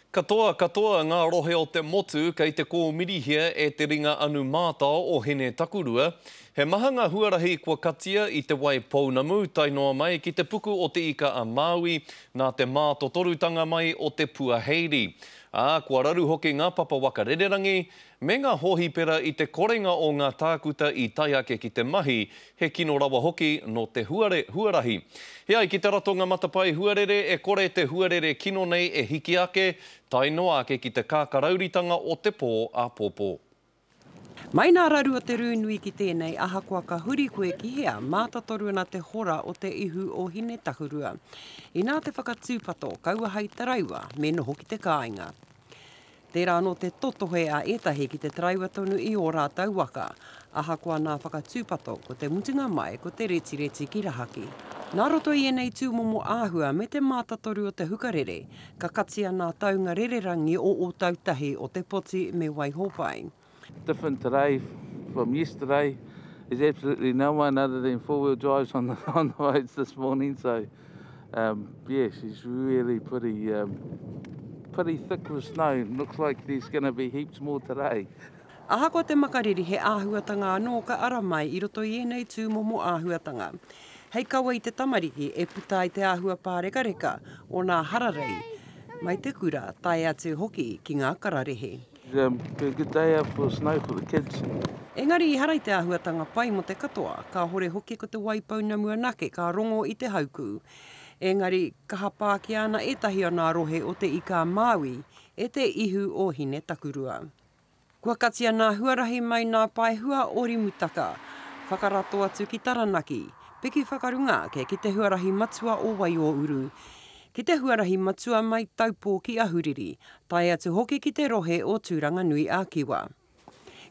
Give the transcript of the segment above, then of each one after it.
Katoa katoa ngā rohe o te motu kei te kōmirihia e te ringa anu mātao o Hine Takurua. He maha ngā huarahi kua katia i Te Wai Pounamu tae noa mai ki te puku o Te Ika-a-Māui nā te mātotorutanga mai o te puaheiri, ā, kua raru hoki ngā papa waka rererangi me ngā hōhipera i te korenga o ngā tākuta i tae ake ki te mahi He kino rawa hoki nō te huare huarahi. E ai ki te ratonga matapae huarere e kore te huarere kino nei e hiki ake, tae noa ake ki te kākarauritanga o te pō āpōpō. Mai nā raru o te rū nui ki tēnei, ahakoa ka huri koe ki hea, mātatoru ana te hora o te ihu o Hinetahurua. Inā te whakatūpato, kaua hai taraiwa, me noho ki te kāinga. Tērā anō te totohe a ētahi ki te taraiwa tonu i ō rātou waka, ahakoa nā whakatūpato, ko te mutunga mai ko te retireti ki rahaki. Nā roto i ēnei tūmomo āhua me te mātatoru o te hukarere, ka katia nā taunga rererangi o Ōtautahi, o Te Poti me Waihopai. Different today from yesterday. There's absolutely no one other than four-wheel drives on the, on the roads this morning. So, um, yeah, she's really pretty, um, pretty thick with snow. Looks like there's going to be heaps more today. Ahakoa te makariri he āhuatanga anō ka ara mai i roto i ēnei tūmomo āhuatanga. Hei kawa i te tamariki e puta ai te āhua pārekareka o nā hararei, mai te kura tae atu hoki ki ngā kararehe. Engari ehara i te āhuatanga pai mō te katoa, kāhore hoki ko te wai pounamu anake ka rongo i te haukū. Engari, ka hapākia ana ētahi o nā rohe o Te Ika-a-Māui e te ihu o Hine-takurua. Kua katia nā huarahi mai nā Paehua o Rimutaka, whakarato atu ki Taranaki, piki whakarunga ake ki te huarahi matua o Waiōuru. ki te huarahi matua mai Taupō ki Ahuriri, tae atu hoki ki te rohe o Tūranganui-a-Kiwa.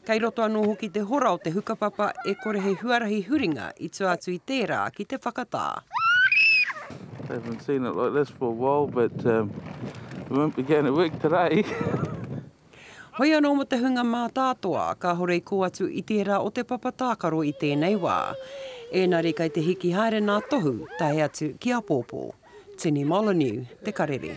Kei roto anō hoki te hora o te hukapapa e kore he huarahi huringa i tua atu i tērā ki te whakatā. Haven't seen it like this for a while, but um, we won't be going to work today. Hoi anō mō te hunga mātātoa, kāhore i kō atu i tērā o te papa tākaro i tēnei wā. Ēnari kei te hiki haere nā Tohu tae atu ki apōpō. Tini Molyneux, Te Karere.